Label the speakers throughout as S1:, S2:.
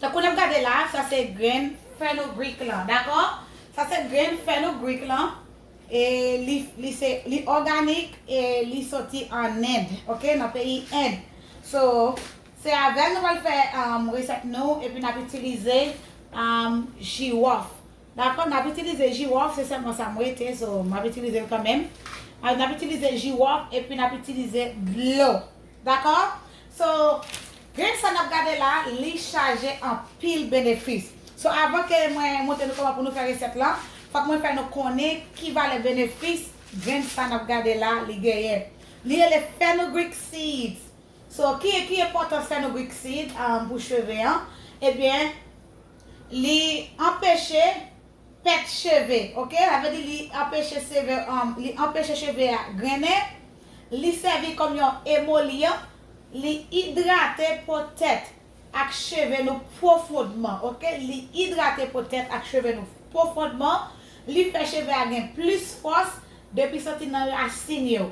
S1: Tankou nap gade la, sa se grenn fenugreek lan, dakò? Sa se grenn fenugreek lan e li li se li òganik e li soti an End, ok, nan peyi End. So, se avèl nou pral fè resèt nou epi nap itilize jiwòf. Dakò nap itilize jiwòf se sèlman sa m rete so map itilize l kanmenm nap itilize jiwòf epi nap itilize dlo dakò so grenn sa nap gade la li chaje anpil benefis so avan ke mwen montre nou kòman pou nou fè resèt lan fòk mwen fè nou konnen ki valè benefis grenn sa nap gade la li genyen li rele fenugreek seeds so ki enpòtans fenugreek seeds pou cheve an ebyen. Li anpeche pèt cheve ok sa vle di li anpeche seve li anpeche cheve a grennen li sèvi kòm yon emolyan li idrate po tèt ak cheve nou pwofondman ok li idrate po tèt ak cheve nou pwofondman li fè cheve a gen plis fòs depi soti nan rasin yo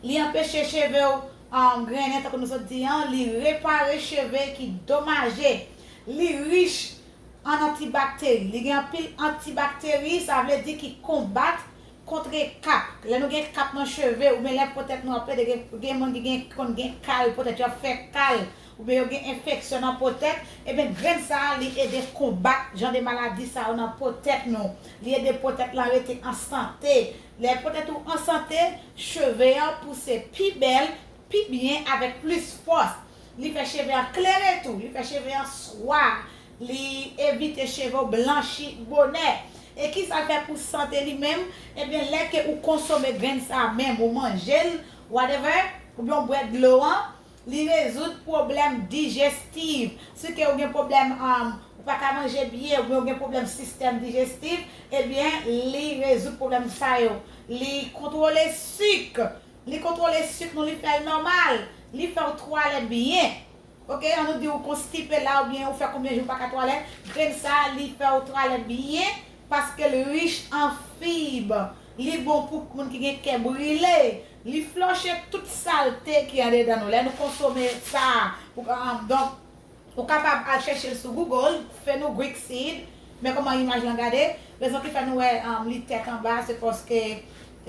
S1: li anpeche cheve ou grennen tankou nou sot di an li repare cheve ki domaje. Li rich an antibakteri. Li gen anpil antibakteri, sa vle di ki konbat kontre kap. Lè nou gen kap nan cheve oubyen lè po tèt nou ap pete, gen moun ki gen ki konn gen kal po tèt yo ap fè kal oubyen yo gen enfeksyon nan po tèt, eben grenn sa a li ede konbat jan de maladi sa yo nan po tèt nou. Li ede po tèt lan rete an sante. Lè po tèt ou an sante, cheve an pouse pi bèl. pi byen avèk plis fòs li fè cheve an klere tou li fè cheve an swa li evite cheve w blanchi bonè e kisal fè pou sante li menm ebyen lè ke ou konsome grenn sa menm ou manje l whatever oubyen w bwè dlo an li rezoud pwoblèm dijestiv si ke ou gen pwoblèm an ou paka manje byen oubyen ou gen pwoblèm sistèm dijestiv ebyen li rezoud pwoblèm sa yo li kontwole suk Li kontrole suk nou li fèl nòmal, li fèw twalèt byen ok an nou di ou konstipe la ou byen ou fè konbyen jou ou paka twalèt grenn sa li fèw twalèt byen paskel rich an fib li bon pou moun ki gen kè brile li flòche tout salte ki andedan nou lè nou konsome sa pou donk Ou kapab al chèche l sou Google, Fenugreek seed, men kòman imaj lan gade, rezon ki fè nou wè li tèt anba se paske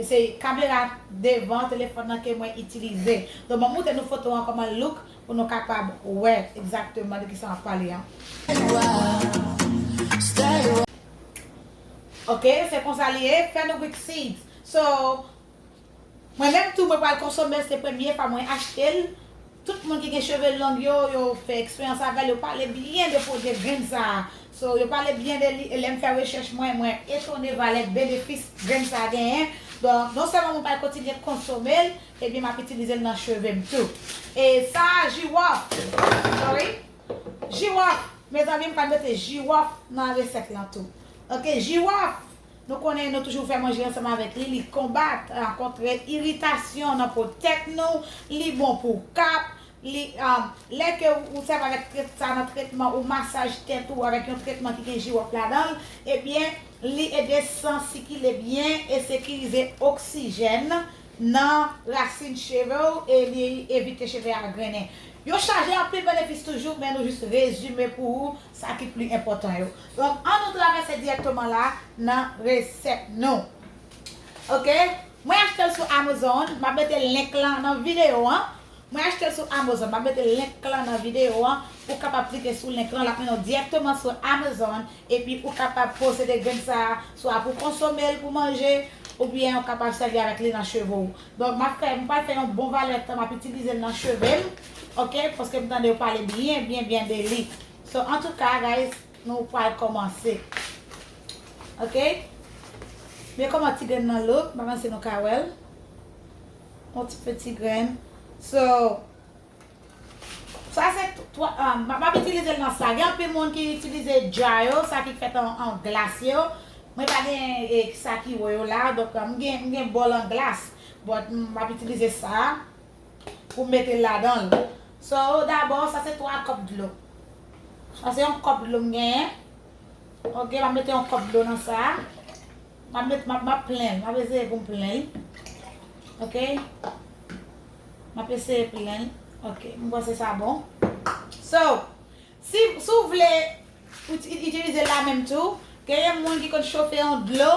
S1: se kamera devan telefòn nan ke mwen itilize. Donk banm moutre nou foto an kòman l look pou nou kapab wè egzakteman de kisa map pale an. Ok, se konsa li ye, Fenugreek seeds. So. Mwen menm tou mwen pral konsomel se premye fwa mwen achtel, tout moun ki gen cheve long yo yo fè eksperyans avèl yo pale byen de pwodye grenn sa so yo pale byen de li e lèm fè rechèch mwen mwen etone valè benefis grenn sa genyen donk non sèlman mwen pral kontinye konsomel ebyen map itilizel nan chevem tou e sa jiwòf sorry jiwòf mezanmi mpral mete jiwòf nan resèt lan tou ok jiwòf. Nou konnen nou toujou fè manje ansanm avèk li, li konbat kontre iritasyon nan po tèt nou, li bon pou kap, li lè ke ou sèvi avèk trèt sa nan trètman ou masaj tèt ou avèk yon trètman ki gen jiwòp ladan l, ebyen li ede san sikile byen e sekirize oksijèn nan rasin cheve w e li evite cheve a grennen. Yo chaje anpil benefis toujou men nou jis rezime pou ou sa ki pli enpòtan yo. Donk an nou travèse dirèkteman la nan resèt nou. Ok mwen achtel sou Amazon map mete link lan nan video an mwen achtel sou Amazon map mete link lan nan video an ou kapab klike sou link lan lap mennen w dirèkteman sou Amazon epi ou kapab posede grenn sa swa pou konsome l pou manje oubyen ou kapab sèvi avèk li nan cheve w donk map fè m pral fè yon bon valè tan map itilize l nan cheve m. ok paske m tande yo pale byen byen byen de li so antouka guys nou pwal komanse ok men koman ti grenn nan look m pa panse nou ka wèl yon ti peti grenn so sa se m ap itilize l nan sa gen anpil moun ki itilize dja yo sa ki fèt an glas yo mwen pa gen sa ki wo yo la donk m gen bòl an glas m ap itilize sa Pou mete l ladan l. So dabò sa se 3 kòp dlo. Sa se yon kòp dlo m genyen. Ok map mete yon kòp dlo nan sa. Map met map map plen l. Map eseye pou m plen l. Ok. Map eseye plen l. Ok. M panse sa bon. So. Si ou vle pou itilize la menm tou, genyen moun ki konn chofe yon dlo,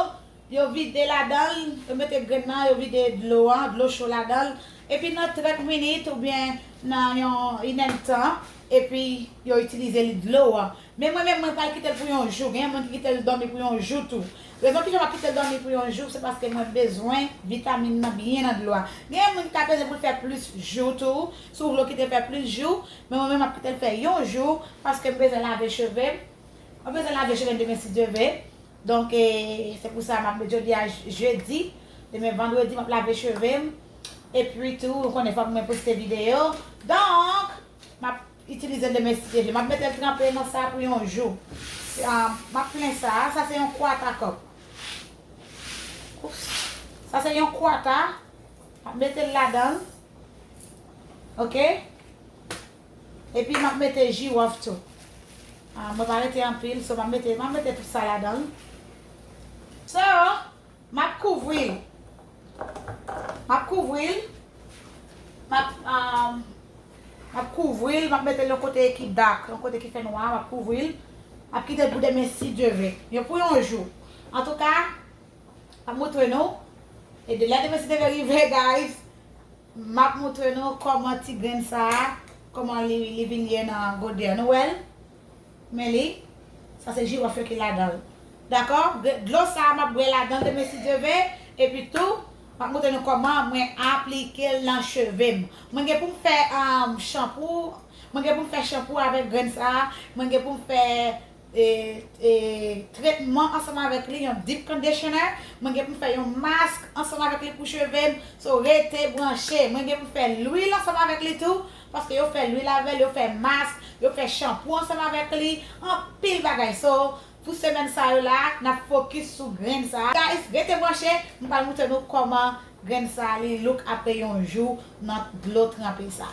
S1: yo vide ladan l, yo mete grenn nan, yo vide dlo an, dlo cho ladan l, epi nan 30 minit oubyen nan yon inèd tan, epi yo itilize li dlo an. Men mwen menm mwen pral kite l pou yon jou, genyen moun ki kite l dòmi pou yon jou tou. Rezon ki fè m ap kite l dòmi pou yon jou, se paske mwen bezwen vitamin nan byen nan dlo a. Genyen moun ki ka peze pou l fè plis jou tou, si ou vle ou kite l fè plis jou, Men mwen menm map kitel fè yon jou paskem bezwen lave chevem Mwen bezwen lave chevem demen si Dye ve Donk se pou sa map met jodia jedi Demen vandredi map lave chevem Epi tou ou konnen fòk mwen poste video Donk map itilizel demen si Dye ve Map metel tranpe nan sa pou yon jou Map plen sa Sa se yon kwata kòk Sa se yon kwata Map metel ladanl Ok Epi map mete jirof tou Ahh mwen pa mete anpil so map mete map mete tout sa ladanl So map kouvril Map kouvril Map ahh Map kouvril map metel yon kote ki dark yon kote ki fè nwa map kouvril Map kitel pou demen si Dye ve Yo pou yon jou Antouka Map moutre nou e de lè demen si deve rive guys map moutre nou koman ti grenn sa koman li vin ye nan gode an nou wèl men li sa se jiròf yo ki ladanl dakò dlo sa map bwè ladanl demen si Dye ve epi tou map moutre nou koman mwen aplikel nan chevem mwen gen poum fè chanpou mwen gen poum fè chanpou avèk grenn sa mwen gen poum fè tretman ansanm avèk li yon deep conditioner mwen gen pou m fè yon mask ansanm avèk li pou cheve m so rete branche mwen gen pou m fè lwil ansanm avèk li tou paske yo fè lwil avèl yo fè mask yo fè chanpou ansanm avèk li anpil bagay so pou semèn sa yo la nap fokis sou grenn sa guys rete branche m pral moutre nou kòman grenn sa li look apre yon jou nan dlo tranpe sa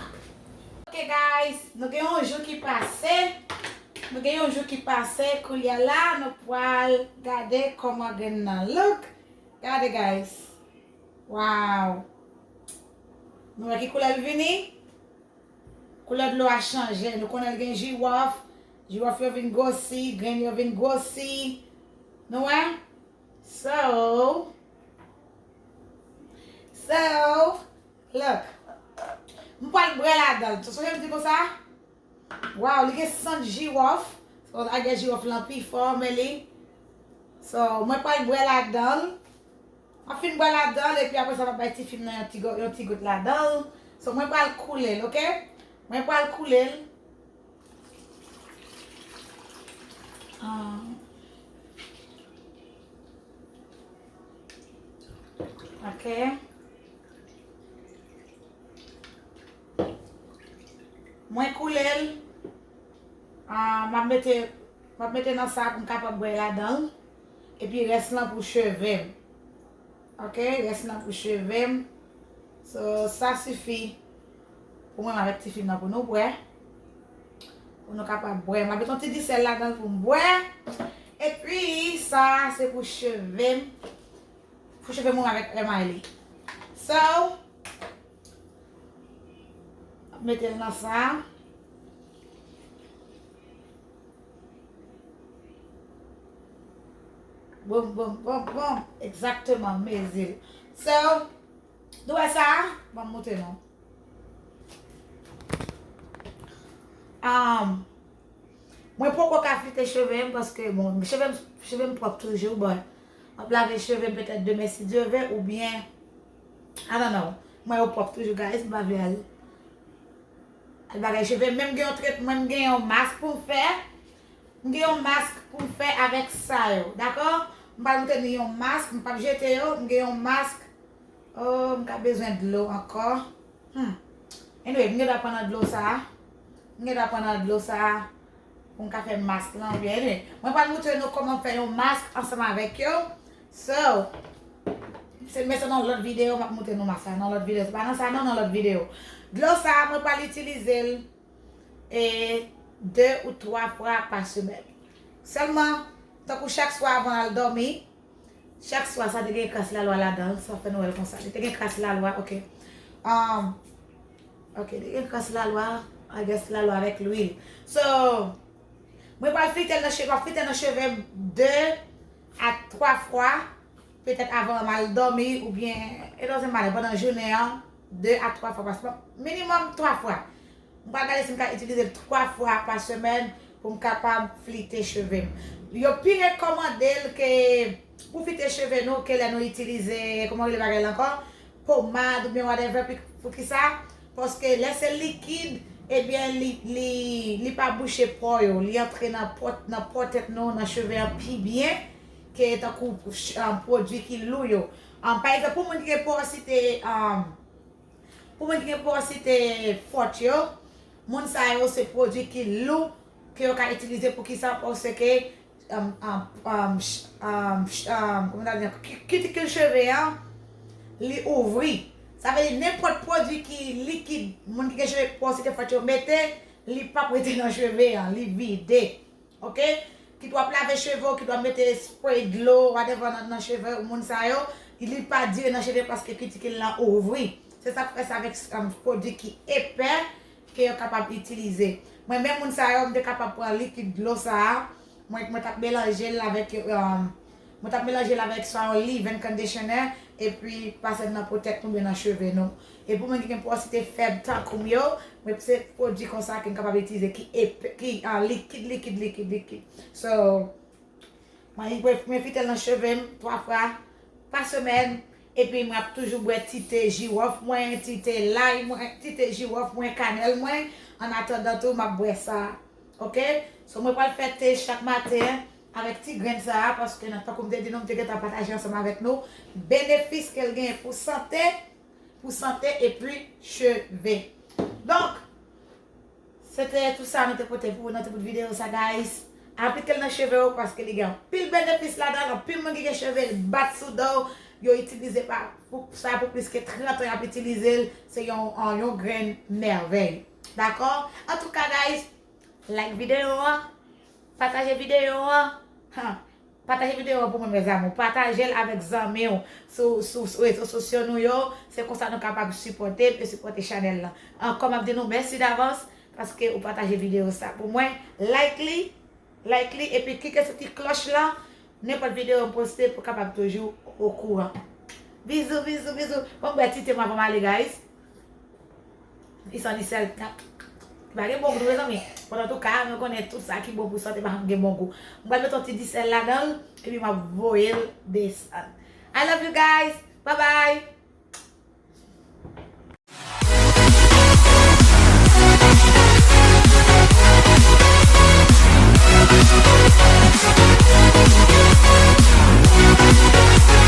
S1: ok guys nou gen yon jou ki pase. Nou gen yon jou ki pase koulya la nou pwal gade koman grenn nan look gade guys waww nou wè ki koulèl vini koulè dlo a chanje nou konnenl gen jiwòf jiwòf yo vin gwosi grenn yo vin gwosi nou wè so so look m pwal bwè ladanl tou sonje m di nou sa Waw li gen sant jirof. Cause I guess jirof lan pi fò men li So mwen pral bwè ladanl. Map fin bwè ladanl epi aprè sa map bay tifi m nan yon ti go yon ti gout ladanl. So mwen pral koulel ok. Mwen pral koulel. Ahh. Ok. Mwen koule l, m ap mete, m ap mete nan sa pou m kapab bwè ladan l. Epi rès lan pou cheve m. Ok, rès lan pou cheve m. So, sa sifi pou mwen m avèk tifi m nan pou nou bwè. Pou nou kapab bwè. M ap mete yon ti di sèl ladan l pou m bwè. Epi, sa a se pou cheve m. Pou cheve m mwen avèk krèm ail. So. Nap mete l nan sa. Boum boum boum boum. Ekzakteman mezi l. So, nou wè sa? Banm montre nou. Ahh. Mwen poko ka flite cheve m paske bon cheve m pwòp toujou but map lave cheve m petèt demen si Dye ve oubyen. I don't know. Mwen yo pwòp toujou guys, m pa vle al al bagay cheve. Men m gen yon tretman, m gen yon mask pou m fè. M gen yon mask pou m fè avèk sa yo. Dakò? M pral montre nou yon mask, m pap jete yo. M gen yon mask. Oh, m ka bezwen dlo ankò. Humm. Anyway, m gen dwa pran nan dlo sa a. M gen dwa pran nan dlo sa a. Pou m ka fè mask lan oubyen anyway. Mwen pral moutre nou kòman fè yon mask ansanm avèk yo. So, se mwen se nan lòt videyo m ap moutre nou mask la. Nan lòt videyo. Se pa nan sa non, nan lòt videyo. Dlo sa a mwen pral itilize l e 2 ou 3 fwa pa semèn. Sèlman, tankou chak swa avan al dòmi. Chak swa sa te gen kras lalwa ladan l, sa fè nou wè l konsa. Li te gen kras lalwa, ok. Ok, li gen kras lalwa, I guess lalwa avèk lwil. So, mwen pral flite l nan cheve, mwen ap flite l nan cheve m 2 a 3 fwa, petèt avan m al dòmi oubyen, it doesn't matter, pandan jounen an, 2 a 3 fwa, minimòm 3 fwa. M pral gade si m ka itilize l 3 fwa pa semèn pou m kapab flite cheve m. Yo pi rekòmande l ke pou flite cheve nou ke lè nou itilize, kouman yo rele bagay la ankò? Pomad oubyen whatever poukisa? Paske lè se likid ebyen li pa bouche pò yo, li antre nan pò tèt nou, nan cheve an pi byen ke tankou pwodui ki lou yo. Pa egzanp pou moun ki gen pòsite Pou mwen ki gen pouw site fot yo, moun sa yo se pwodwi ki lou ke yo ka itilize poukisa paske kitikil cheve an li ouvri sa vle di nenpot pwodwi ki likid moun ki gen cheve pouw site fot yo mete li pap rete nan cheve an li vide. Ok kit wap lave cheve ou kit wap mete spray dlo whatever nan cheve ou moun sa yo li pa dire nan cheve paske kitikil lan ouvri se sak fè se avèk pwodwi ki epè ke yo kapab itilize mwen menm moun sa yo m te kapab pran likid dlo sa mwen tap melanjel avèk Mwen tap melanje l avèk Swaon Lee vin conditioner epi pase l nan po tèt nou byen nan cheve nou. E pou moun ki gen pwosite fèb tankoum yo, mwen se pwodwi konsa ke m kapab itilize ki epe ki an likid likid likid likid. So mwen enfite l nan cheve m 3 fwa pa semèn epi mwen ap toujou bwè ti te jiwòf mwen, ti te lay mwen, ti te jiwòf mwen, kanèl mwen, an atandan tou map bwè sa ok. So mwen pral fè te chak maten Avèk ti grenn sa a, paske nan tankou m te di nou, m te gentan pataje ansanm avèk nou benefis ke l genyen pou sante, pou sante epi cheve. Donk, se te tou sa nou te pote pou ou nan ti bout videyo sa guys. Aplike l nan cheve ou paske li gen anpil benefis ladan l, anpil moun ki gen cheve l bat sou do, yo itilize pa pou sa pou plis ke 30 an y ap itilize l, se yon yon grenn mèvèy. Dakò? Antouka guys, like videyo a, Pataje video an Huh Pataje video an pou mwen mes amour Patajel avek zanmiw sou rezo sosyo nou yo Se konsa nou kapab sipotem e sipote chanel lan Anko map di nou mèsi davans paske ou pataje video sa pou mwen Like li Like li epi klike sou ti kloch lan Nenpot video m poste pou kapab toujou okouran Bizou bizou bizou Banm bwè ti tem avanm ale guys. Li san li sèl. Li pa gen bon gou tou mezanmi. Bon antouka mwen konnen tout sa ki bon pou sante pa janm gen bon gou. M pral mete yon ti di sèl ladan l epi map voye l desann. I love you guys bye bye.